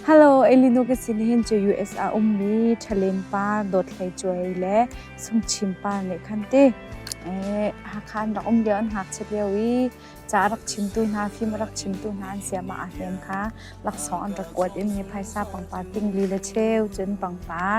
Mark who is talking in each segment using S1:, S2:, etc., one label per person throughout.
S1: Hello, Elino ke sinin chu US a ummi Thalen par dothlei chuai le sumchim par le khante eh hakhan rak um leo an hak chep leo i cha rak chim tu hna phim rak chim tu hna an siama a hlen kha laksong an rak kuat in he phaisa pangpar ting li le cheu cun pangpar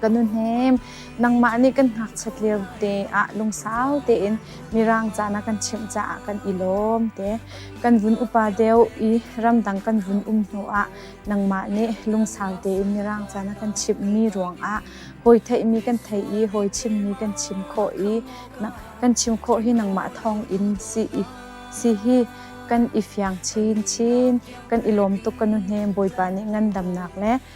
S1: ka nu hnem nangmah nih kan ngakchiat lio te ah lungsau tein mirang ca na kan chimh caah kan i lawm te kan vun upa deu i ramdang kan vun um hnu ah nangmah nih lungsau tein mirang ca na kan chimhmi ruangah hawi theihmi kan thei i hawi chimmi kan chim khawh i kan chim khawh hi nangmah thawng in si i si hi kan i fiang chinchin kan i lawm tuk ka nu hnem bawipa nih ngandamnak le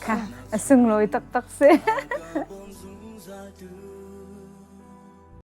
S1: Kha a sunglawi taktak si.